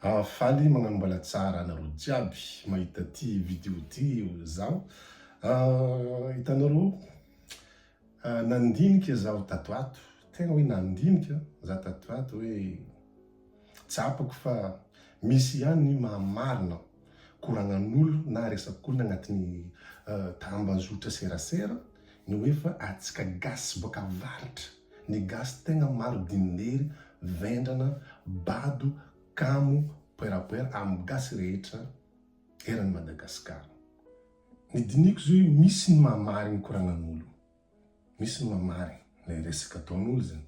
Ahh faly magnano mbala tsara anareo jiaby mahita ty video ty zaho ahh hitanareo ahh nandinika zaho tato ato tegna hoe nandinika za tato ato hoe tsapako fa misy ihany ny maha marina koragnan'olo na resak'olo agnatin'ny tambazotra serasera ny hoe fa antsika gasy boaka avaratra Ny gasy tegna maro dinilery, vendrana, bado, kamo, poerapoera amin'ny gasy rehetra eran'i Madagascar. Ny diniko zao io misy ny maha marigny koragnan'olo, misy ny maha marigny le resaka ataon'olo zegny.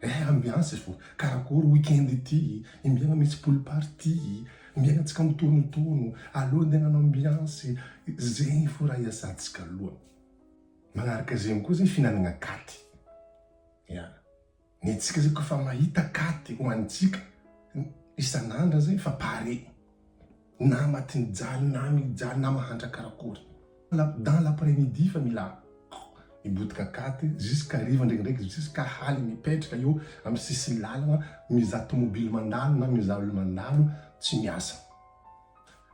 Eh ambiance vo karakory week-end ity, imbiana misy pool party, imbiana tsika mitonotono, aleo ndeha hanao ambiance, zegny fo raha iasantsika aloha. Magnaraka zegny koa zay fihinanagna katy, ya, ny antsika zay koa fa mahita katy hoanintsika isan'andra zay fa pare. Nama tsy nijaly na mijaly na mahantra karakory. Dans l'après midi fa mila mibotika cate jusqu'à hariva ndraikindraiky jusqu'à hali mipetraka eo amin'ny sisin'ny lalana mizaha tomobily mandalo na mizaha olona mandalo tsy miasa.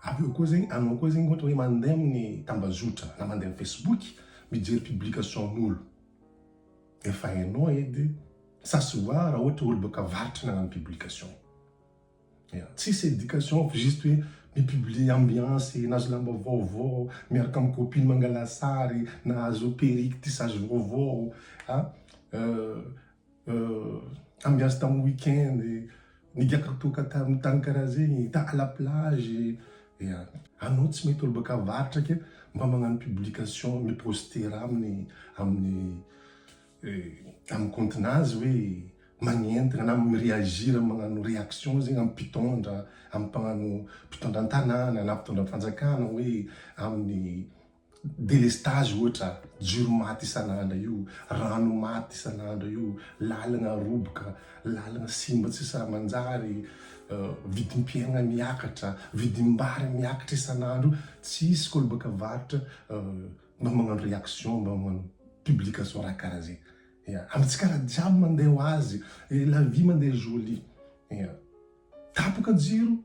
Avy eo koa zegny anao koa zegny ohatra hoe mandeha amin'ny tambazotra na mandeha amin'ny facebook mijery publication'olo efa hainao edy ça se voit raha ohatra hoe olo boaka avaratra nagnano publication. Tsisy éducation fa juste hoe mi-publier ambiance, nahazo lamba vaovao, miaraka amin'ny copine mangala sary, nahazo perruque, tissage vaovao, ambiance tamin'ny week-end, nigiaka toaka tamin'ny tany karaha zegny, ta à la plage, ya. Anao tsy mety olo baka avaratra ke mba magnano publication, mi-poster aminy, amin'ny eh, amin'ny compte-na azy hoe magnentana na mi-reagir magnano réaction zegny amin'ny mpitondra, amin'ny mpagnano mpitondra an-tanàna na mpitondra fanjakana hoe amin'ny délestage ohatra, jiro maty isan'andra io, rano maty isan'andra io, lalagna roboka, lalagna simba tsy sahy manjary, eh, vidim-piaigna miakatra, vidim-bary miakatra isan'andro io, tsisy kolobaka varotra eh, mba magnano réaction, mba magnano publication raha karaha zay, ya, amintsika raha jiaby mandeha ho azy, la vie mandeha jolie, ya, tapaka jiro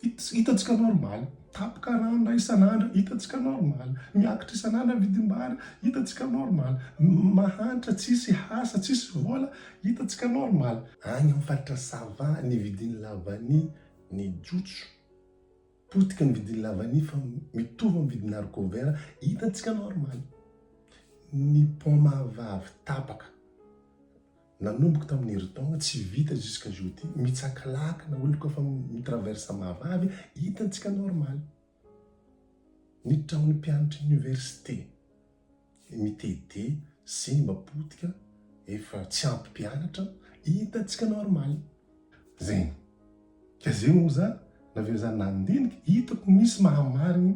hitantsika normal, tapaka rano ndray isan'andro hitantsika normal, miakatra isan'andro ny vidim-bary hitantsika normal, mahantra tsisy asa tsisy vola hitantsika normal, any amin'ny faritra sava nividian'i la vanille ny jojo. Potika ny vidin'ny lavania fa mitovy amin'ny vidin'ny haricot vert hitantsika normal. Ny paoma vavy tapaka nanomboka tamin'ny herintaona tsy vita jusqu'à jeudi mitsakalakana hoy koa fa mitraverse mahavavy hitantsika normal. Ny trano mpianatra université ny mitete sy ny mba potika efa tsy ampy mpianatra hitantsika normal zegny ka ze moa za naveo za nandinika hitako misy mahamarigny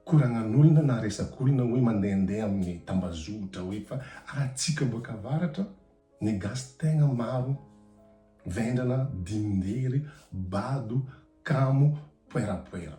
koragnan'olona na resak'olona hoe mandehandeha amin'ny tambazotra hoe fa atsika boaka avaratra ny gasy tegna maro vendrana, dindindeiry, bado, kamo, poerapoera.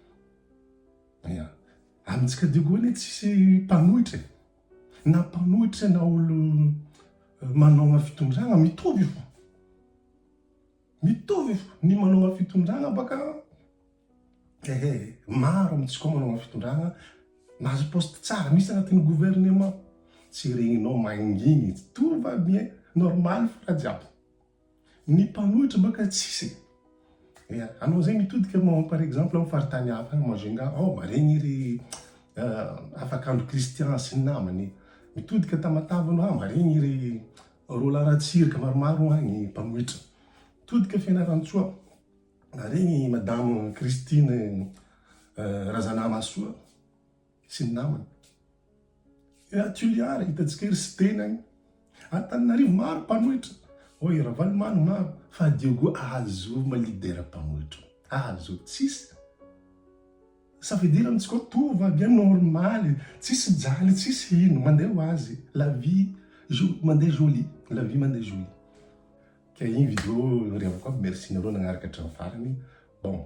Ia. Amintsika diakoa anie tsisy mpanohitra e. Na mpanohitra na olona manaona fitondrana mitovy fo. Mitovy fo, ny manaona fitondrana baka ehe maro amintsika ao manaona fitondrana, mahazo poste tsara, misy agnatin'ny gouvernement, tsy regninao mangigny, tsy tovy aby e, normal fo raha jiaby. Ny mpanohitra baka tsisy e! Ia, anao zay mitodika manao par exemple am faritany hafa any Majunga ao, maregny ry Afakandro Christian sy ny namany, mitodika Tamatave anao, maregny ry Roland Ratsirika maromaro agny mpanohitra, mitodika Fianarantsoa, maregny i madame Christine Razanamahasoa. sy ny namany. Ery Toliara hitantsika ery sy tenany. Antananarivo maro mpanohitra, hoy i Ravalomano maro fa à Diogo ahazovo ma leader mpanohitra. Ahazovo tsisy ça veut dire amintsika ao tova aby any normaly, tsisy mijaly tsisy hino, mandeha ho azy la vie mandeha jolie, la vie mandeha jolie. Ka iny vidéo revako aby, merci nareo nagnaraka hatramin'ny farany. Bon.